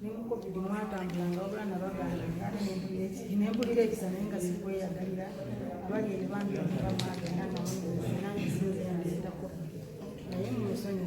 ne mu covid mwatambulanga wabula nabagamba ate nempulira ekisa naye nga sikweyagalira bali eri bambi bamagenda nange sinzeyazita covid naye mumusonyi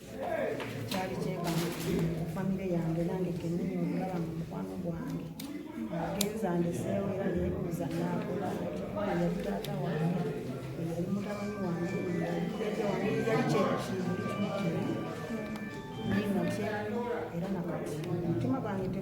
kyali kyebamu famire yange nange kenyini okulaba mu mukwano gwange agenza ndeseewo era nebuuza nakola yali taata wange yali mutabani wange yali kyekiyinakye era nakati omutima gwange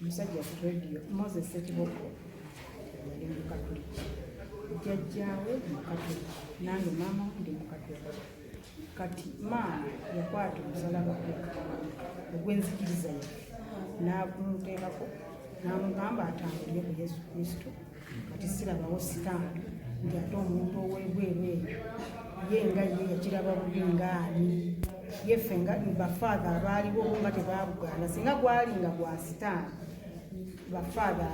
omusajja ku rediyo moses sekiboko yali mukatuliki jjajjaawe mukatuliki nange maama ndi mukatuliki kati maama yakwata omusalaba ogw'enzikiriza ye n'agumuteekako n'amugamba atambulire ku yesu kristo kati sirabawo sika nti ate omuntu owebweru eyo ye nga ye yakiraba bubi ngaani yeffe nga bafaatha abaaliwo nga tebabugaana singa gwali nga gwa sitaani bafaatha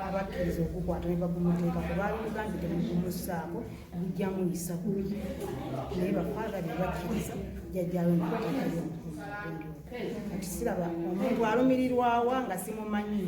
abakkiriza okukwata ne bagumuteekako baali mugambi temugumusaako gujja muyisa bubi naye bafaatha be bakkiriza jajjawe naatakayo kati siraba omuntu alumirirwawa nga simumanyi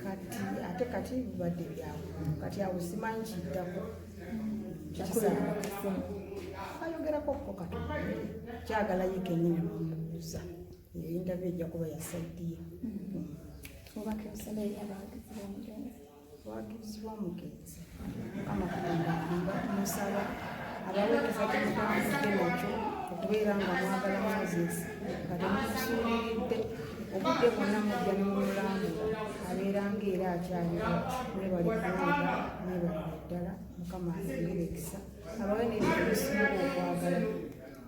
kati ate kati bibadde byawo kati awo simanyi kiddako ayogerako ko kati kyagala ye kenyini nomubuuza eyo yintavi ejja kuba yasaidiye hmm. watuuzibwa omugenzi mukama katonda aamba musaba abaweereza kyemutamudde nakyo okubeera nga mwagala moses nga temukusuuliridde obudde bwonna mujja nemumulambula abeera nga era akyaliwo mwebali kuwulira mwebalira ddala mukama ayongere ekisa abawe nebyobisinga okwagala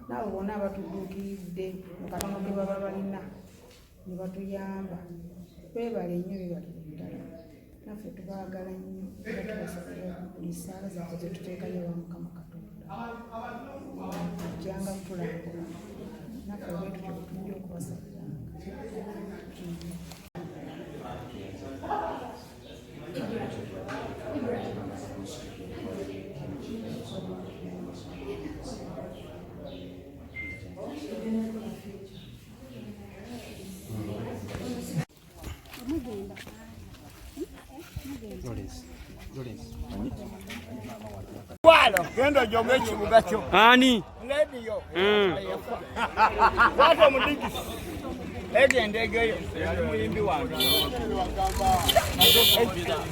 naabo bona abatuduukiridde mukatono ge baba balina ne batuyamba twebale nnyo bibatuku ddala naffe tubaagala nnyo era tubasobole buli saala zaffe zetuteekayo wa mukama katonda ajjanga kutulambula naffe bwetutyo bwetujja okubasabiranga Thank you. genda jome ekibuga kyo ani lediyo hmm. wata omudigisi egenda egeyo muyimbi wange